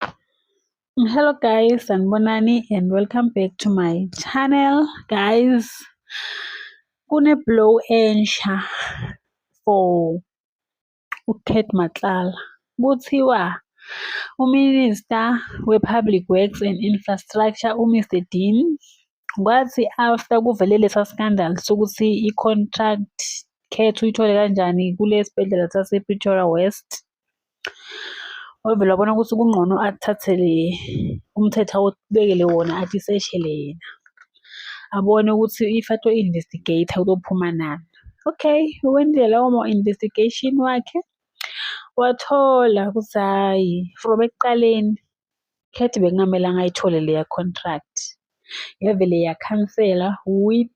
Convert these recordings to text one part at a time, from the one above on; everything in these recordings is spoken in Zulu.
Hello guys, sanibonani and welcome back to my channel. Guys, kune blow ensha for uKat Matlala. Kuthiwa uMinister we-Public Works and Infrastructure uMr Dean kwathi after kuvele lesa scandal sokuthi i-contract khethu uyithole kanjani kulesibhedlela sase-Pretoria West wavele wabona ukuthi kungcono athathele umthetho awubekele wona athi seshele yena abone ukuthi if ato investigate uzophuma nani okay wenzile lawo ma-investigation wakhe wathola ukuthi hhayi from ekuqaleni khethi bekungamelanga ayithole leya contract yavele yakhansela with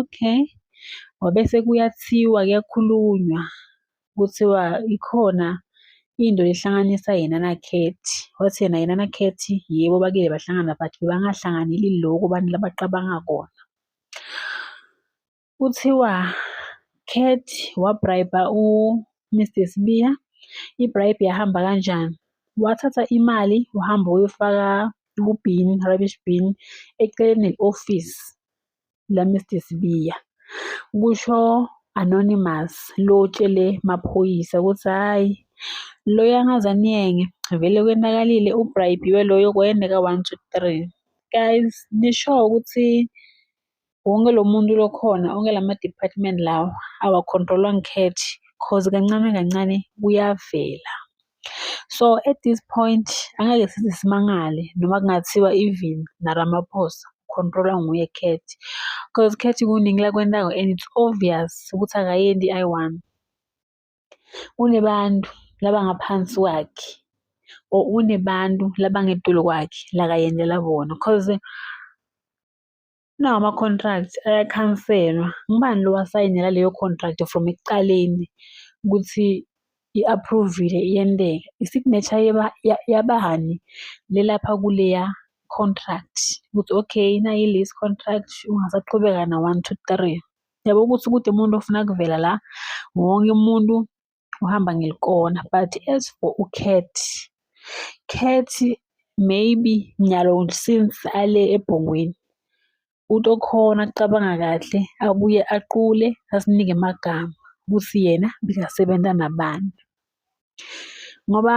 Okay. Wabese kuyathiwa kuyakhulunywa, kuthiwa ikhona into ehlanganisa yena nakhethi. Wathi yena yena nakhethi yebo bakile bahlangana but bebangahlanganeli lokhu abantu labacabanga kona. Kuthiwa Cat wabrayibha uMr Sibiya, ibribe yahamba kanjani? Wathatha imali wahamba wayofaka ku-bin, rubbish bin, eceleni ne-ofisi. la Mr Sibiya kusho anonymous lo tshele maphoyisa ukuthi hhayi loyo angaze aniyenge vele kwenakalile ubribiwe loyo kwayendeka one two three guys nisho ukuthi wonke lo muntu lokhona onke la ma-department lawa awa-control-wa ngikhethi cause kancane kancane kuyavela. So at this point angeke size simangale noma kungathiwa even naRamaphosa control-wa nguye Cat cause Cat kuningi lakwentayo and it's obvious ukuthi akayendi i one. Unebantu laba ngaphansi kwakhe or unebantu laba ngetulu kwakhe lakayendela bona cause Nawo ama-contract ayakhanselwa. Ngubani lo owasayinela leyo contract from ekuqaleni ukuthi i-aphruvile iyenteka? I-signature yabani le lapha kuleya contract ukuthi okay nayi i-lease contract ungasaqhubeka na-one two three. Yabo ukuthi kude umuntu ofuna kuvela la wonke umuntu uhamba ngelikona but as for ucat cat maybe nyalo since ale ebhongweni uthi okhona kucabanga kahle abuye aqule asinike amagama ukuthi yena bekasebenza nabani ngoba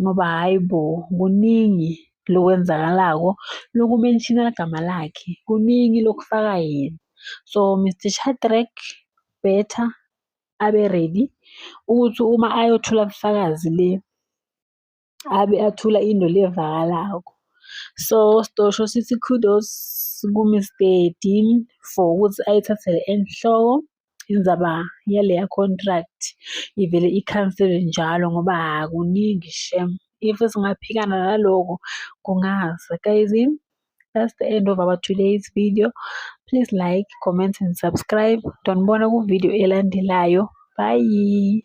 ngoba hhayi bo kuningi lokwenzakalako lokumenshina igama lakhe kuningi lokufaka yena so Mr Shadrack better abe ready ukuthi uma ayothula ubufakazi le abe athula into le evakalako so sitosho sithi kudos ku-Mr Dean for ukuthi ayithathele enhloko indzaba yaleya contract ivele ikhansele njalo ngoba kuningi shem if singaphikana naloko kungaze guys that's the end of our today's video please like comment and subscribe ndonibona kuvidiyo elandelayo bye